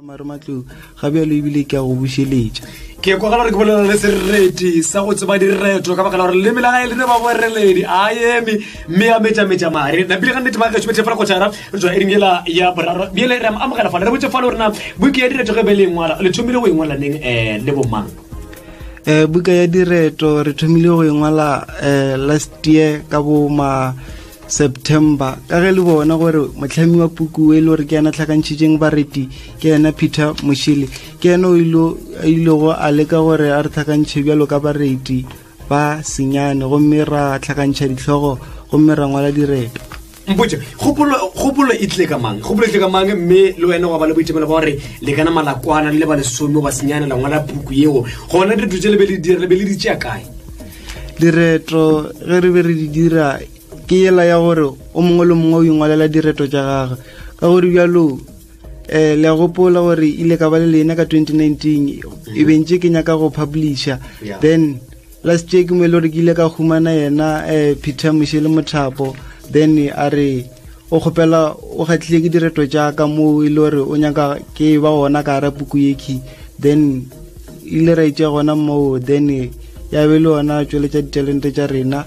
mare matlou ga bjalo ebile ke a go bušeletša ke kwa gore ke bolela le sereti sa go tseba direto ka baka la gore leme la gae le ne ba boreledi a eme mme ya metšametša mare napile ga nnete ba gaešo betlefela go tšhara re tswa ering ela ya boraro bjele re amogela fale re botse fale gorena buke ya direto ge be le engwala le thomile go engwala neng um le bomang um buka ya direto re thomile go engwala um last year ka boma september ka ge le bona gore motlhami wa puku e le gore ke yena tlhakantšhitšeng bareti ke yena peter mošele ke yena o a ilego a leka gore a re tlhakantšhe bjalo ka bareti ba senyane gomme ra tlhakantšha ditlhogo gomme ra ngwala direto mpotse kgopolo e tlile ka mang kgopolo e tlile ka mang mme le wena wa ba le boitemelo ba gore le kana malakwana le le ba lesome ba senyane la ngwala puku yeo gona dilo tse le be le dira le be le ditšea kae direto ge re be re di dira ke yela ya gore o mongwe le mongwe o ingwalela direto tša gagwe ka gore bjalo um eh, le a gopola gore ile ka ba le lena ka 2019 e bentse ke nyaka go publisha then last year ke mo e le gore ke ile ka humana yena um peter moše le mothapo then a re o kgopela o kgatlhile ke direto tša ka moo e le gore o nyaka ke ba gona ka gara puku yekhi then e ile ra itša gona moo then ya be le yona tšweletša ditalente tša rena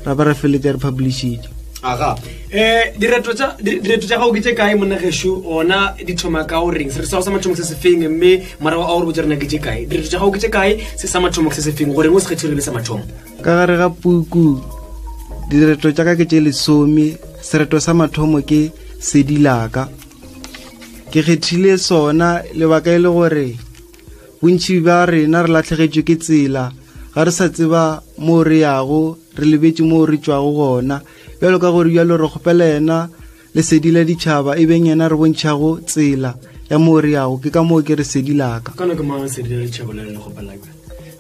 ra ba ra feletša re publishitše aga um direto tša gago ke tše kae monna gešo ona di thoma ka o reng sere sa go sa mathomo se se feng mme morago a gore botse rena ke tše kae direto tša gago ke tše kae se sa mathomo se se feng goreng o se kgethirile sa mathomo ka gare ga puku direto tša ka ke tše lesome sereto sa mathomo ke sedilaka ke kgethile sona lebaka e le gore bontši ba rena re latlhegetšwe ke tsela ga re sa tseba moo re yago re lebetse moo re tšwago gona bjalo ka gore bjalo re kgopela yena Lesedi la ditšhaba e beng yena re bontšhago tsela ya moo re yago ke ka moo ke re sedi laka kana ke mang sedi la ditšhaba le le gopalaka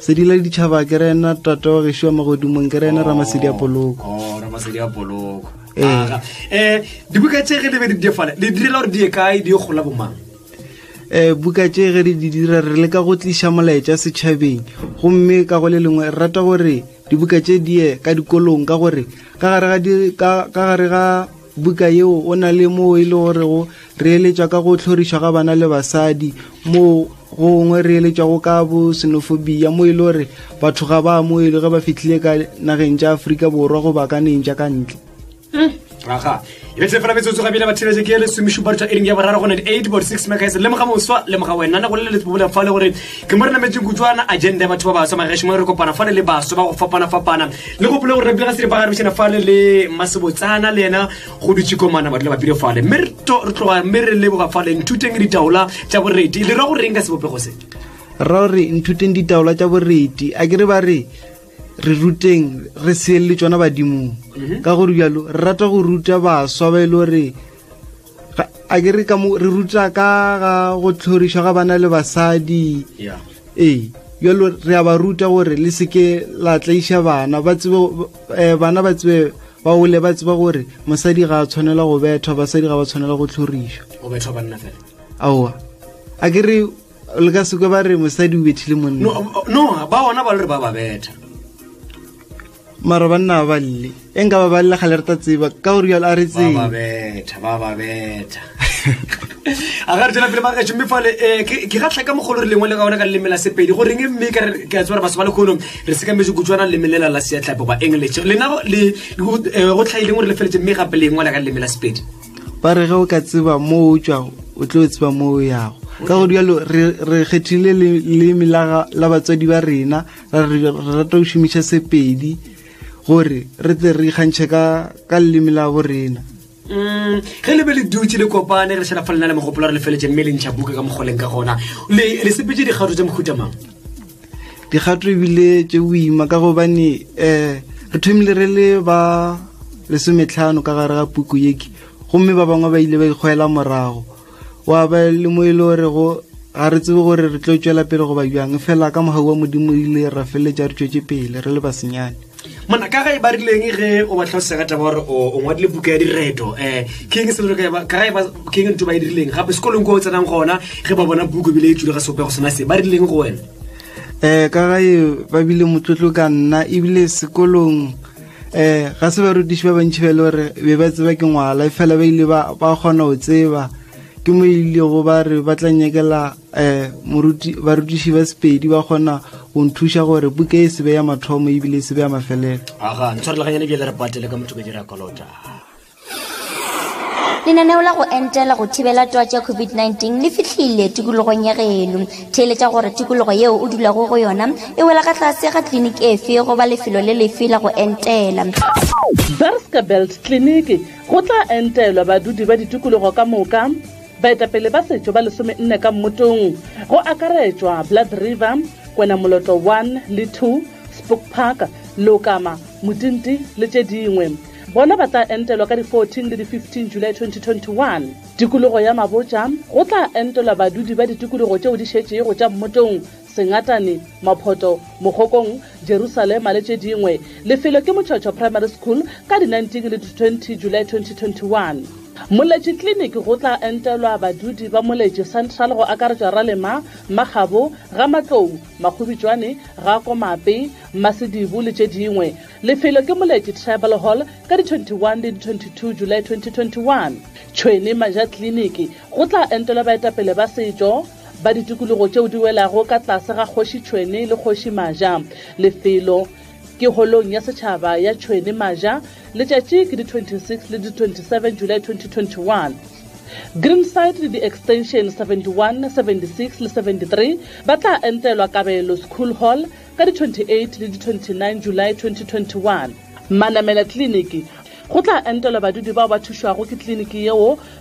sedi la ditšhaba ke rena tata wa gešo wa magodimong ke rena ramasedi a oh, poloko oh, ramasedi a poloko um dibuka tše ge di be di diefale le direla gore di ye kae di ye gola bomang um buka tše ge re di dira re leka go tliša molaetša setšhabeng gomme ka go le lengwe re rata gore Dibuka tše di ye ka dikolong ka gore ka gare ga, di, ka, ka gare ga buka yeo o na le moo e le gorego re eletšwa ka go hlorišwa ga bana le basadi moo gongwe re eletšwago ka bo senofobia mo e le gore batho ga ba amoele ge ba fitlhile ka nageng tša aforika borwa go bakaneng tša ka ntle aga e betle fela metsotso ga bile ba thibetse ke le somešupa dutha e ring ya boraro gone di-eight bot six megaes le moga moswa le moga wena na go le letsebobola fa le gore ke mo re nametseng kutswana agenda ya batho ba baswa magaešo mo re kopana fale le baswa ba go fapana-fapana le gopole gore re bile ga se dipagare bošana fale le masebotsana le yena go dutše komana ba dula ba bile fale mme re tloga mme re leboga fale nthuteng ditaola tša boredi le ra go reng ka sebopego se ra gore nthuteng ditaola tša boreti a ke re ba re re ruteng re seelele tsona badimong mhm. ka gore bjalo re rata go ruta baswa ba e le gore a ke re re ruta ka ga go tlhorišwa ga bana le basadi ee bjalo re a ba ruta gore le seke la tlaiša bana ba tsebe eh, bana ba tsebe ba ole ba tseba gore mosadi ga a tshwanela go bethwa basadi ga ba tshwanela go tlhorišwa aowa a ke re le ka seko ba re mosadi o bethile monna no no, ba ona ba le re ba ba betha mara banna ba balle e nka ba balle ga le reta tseba ka gore jalo a re ba ba tsee betha ba ba betha a ga re tsena pele magaešo mme fale um ke ke ga tlhaka mogolo re lengwe le ga ona ka leleme la sepedi goreng e mme ka re- ke a tseba gore batho ba lekgonong re sekametse kutswana leleme lela la seatlapo ba english lena go- le go eh, go tlhaileng gore le feletse mme gape lengwe la ka leleme la sepedi ba re ge o ka tseba moo o tšwago o tlo tseba moo o yago ka go dialo re kgethile leleme la batswadi ba rena ra re rata go šomiša sepedi gore re tle re ikgantšhe ka leleme la bo rena mm, ge le be le dutse le kopane re šhela fa lena le mogopolo re lefeletse mme le ntšha buka ka mokgoleng ka gona le sepetse dikgato tse mohutamang dikgato ebile tše boima ka gobane um re thomile re le ba lesometlhano ka gare ga puku yeke gomme ba bangwe ba ile ba ikgwela morago wa ba le mo e le gore go ga re tsebe gore re tlo tšwela pele goba bjang fela ka mogau wa modimo ile ra feleletša re tšwetše pele re le basenyane mona ka ga e ba rileng ge o ba tlhalosega taba gore o ngwadile buka ya direto um eh, king selo ka ga e ba king ntho ba e dirileng gape sekolong ko o tsenang gona ge ba bona buku ebile e tsule ga seopego sona se ba rileng go wena um ka ga e ba bile motlotlo ka nna ebile sekolong um ga se ba rutiši ba bantšhi ba e le gore be ba tseba ke ngwala e fela ba ile ba kgona go tseba ke mo e ilego ba re ba tla nyakela eh moruti barutiši ba sepedi ba kgona go nthuša gore buka e sebe ya mathomo ebile e sebe ya mafelelo aga ntshwarelaganyane ke le re patele ka motho ka dira kolota lenaneo la go entela go thibela toa tša covid-19 le fihlile tikologong ya geno theeletša gore tikologo yeo o dulago go yona e wela ka tlase ga tliliniki efe goba lefelo le lefe la go entela Berska Belt Clinic go tla entelwa badudi ba ditikologo ka moka Baetapele ba setšo ba lesomenne ka mmotong, go akaretšwa Blood River, Kwenamoloto One le Two, Spook Park, Leokama, Motinti le tše dingwe, bona ba tla entelwa ka di 14 le di 15 Julae 2021. Tikologo ya Mabotja, Go tla entelwa badudi ba ditikologo tšeo di šetšego tša mmotong Sengatane, Maphoto, Mogokong, Jerusalema le tše dingwe. Lefelo ke Motšhotšho Primary School ka di 19 le di 20 July 2021. Moletši Clinic go tla entelwa badudi ba Moletši Central go akaretšwa Ralema, Makgabo, Gamatlou, Makgobitšwane, Ga Komape, Masedibu le tše dingwe. Lefelo ke Moletši Tribal Hall ka di 21 le di 22 July 2021. Tšhwene Maja Clinic go tla entelwa baetapele ba setšo. ba ditikologo tšeo di welago ka tlase ga kgoši Tšhwene le kgoši Maja. Lefelo ke holong ya setšhaba ya Tšhwene Maja. Letšatši ke di 26 le di 27 July 2021. Greenside le di-extension 71, 76 le 73 ba tla entelwa Kabelo School Hall ka di 28 le di 29 July 2021. Manamela Kliniki, Go tla entelwa badudi bao ba thušwago ke kliniki yeo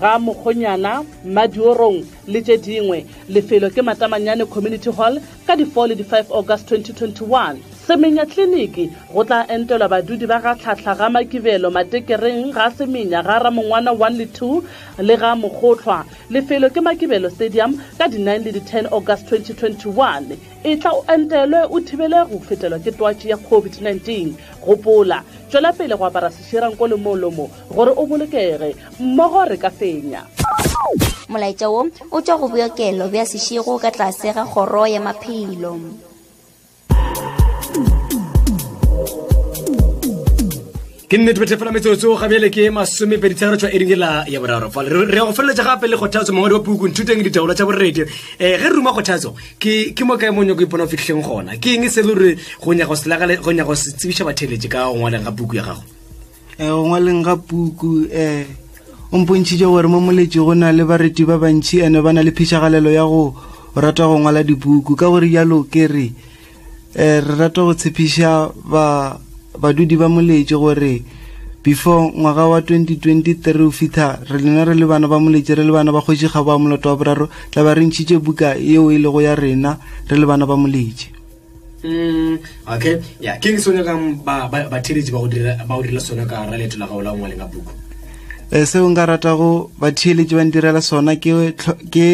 ga Mokgonyana, Madiorong le tše dingwe. Lefelo ke Matamanyane Community Hall ka di 4 le di 5 August 2021. Semenya Clinic, Go tla entelwa badudi ba ga Tlhahla ga Makibelo, Matekereng, ga Semenya, ga Ramongwana 1 le 2 le ga Mokgohlwa. Lefelo ke Makibelo Stadium ka di 9 le di 10 August 2021. Etla o entelwe o thibele go fetelwa ke twatši ya COVID-19. Gopola, tšwela pele go apara sešira nko le molomo gore o bolokege mmogo re ka fenya molaetša wo o tšwa go bookelo bja sešego ka tlase ga kgoro ya maphelo ke nnete bethe fela metsotso ga bjele ke masomepedi tsegare tswa eding ela ya boraro fa re ya go feleletsa gape le kgothatso mongwadi wa puku nthuteng ditaolo tsa boredi um eh, ge re ruma kgothatso ke mo kae monyako ipona o fitlhileng gona ke eng e se le gore go nyaka go se tsebiša batheletše ka go ngwaleng ga puku ya gago um go ngwaleng ga puku um o mpontšhitše gore mo moletši go na le bareti ba bantšhi ene ba na le phišagalelo ya go rata go ngwala dipuku ka gore jalo ke re um re rata go tshepiša ba badudi ba moletši gore before ngwaga wa 2023 o fitlha re lena re le bana ba moletši re le bana ba kgoši kgabo wa moloto wa boraro tla ba re ntšhitše buka yeo e lego ya rena re le bana ba moletši Mm, okay ya ke re sone gang ba ba ba theletsi ba go dira ba go dira sone ka ra leto la gaola ngwa lenga buku e eh, se o nga rata go ba theletsi ba ndirela sona ke ke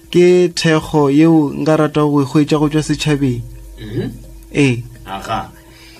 ke thego yeo nga rata go e go tswa setšhabeng mm -hmm. e eh. aga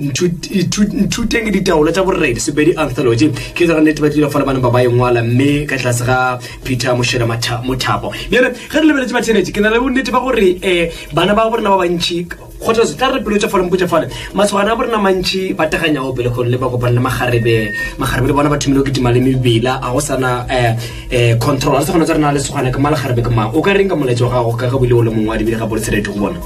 nthuteng ditaolo tša boredi sepedi anthology ke tsara nnete ba tlile fala bana ba ba engwala mme ka tlase ga peter mošela mothapo bjale ge re lebeletse bathenetše ke na le bonnete ba gore um eh, bana ba borena ba bantšhi kgothatso tla re pelo tša fale mpotša fale masogana a borena mantšhi ba teganyago pele gore le ba kopane le magarebe magarebe le bona ba thomile go kitima le mebila ga go sana um eh, eh control a se gona tsa rena le segwana ke malagare be ke mang o ka reng ka molaetsa wa gago ka ge bile o le mongwe wa dibile ga boletserete go bona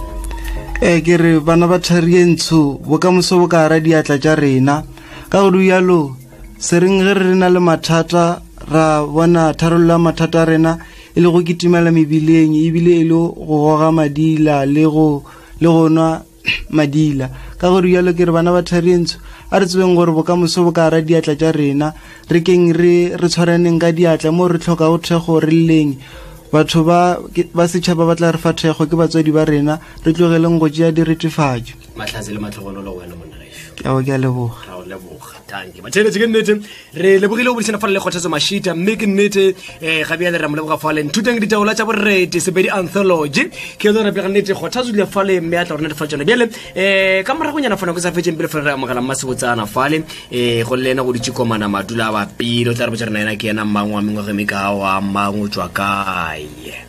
ee ke re bana ba thari e ntsho bokamoso bo ka ara diatla tša rena ka go rialo se reng ge re na le mathata ra bona tharollo ya mathata a rena e le go kitimela mebileng ebile e le go goga madila le go le go nwa madila ka go rialo ke re bana ba tharientsho a re tsebeng gore bokamoso bo ka ra diatla tša rena re keng re re tshwaraneng ka diatla mo re tlhoka go thekgo re leng batho ba ba setšhaba ba tla re fa thekgo ke batswadi ba rena re tlogeleng go tšea diretefatšo matlhatse le matlogololo wena monna ao ke a leboga ra o leboga tanke batheletše ke nnete re lebogile go bodišana fale le kgothatso mashita mme ke nnete um ga bjale ra mo leboga faleng thuteng ditaola tša boredi sebedi anthology ke yone rapega nnete kgothatso dile fale mme a tla rona difa tsone bjale um ka moragonyana fana ko sa fetseng pele fale re amogela mmasebotsana fale um eh, go le ena go ditše komana madula a bapele o tla re botsa rena ena ke ena mmang wa mengwage mme ka wa mmang o tswa kae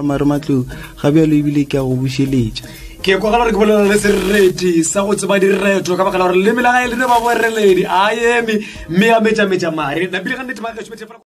mare matlong ga bjalo ebile ke a go bušeletša ke kwa gore ke bolela le sereti sa go tseba direto ka bakala gore le melaga e lene ba boreledi a eme mme ya metšametša mare napile ga nnete ba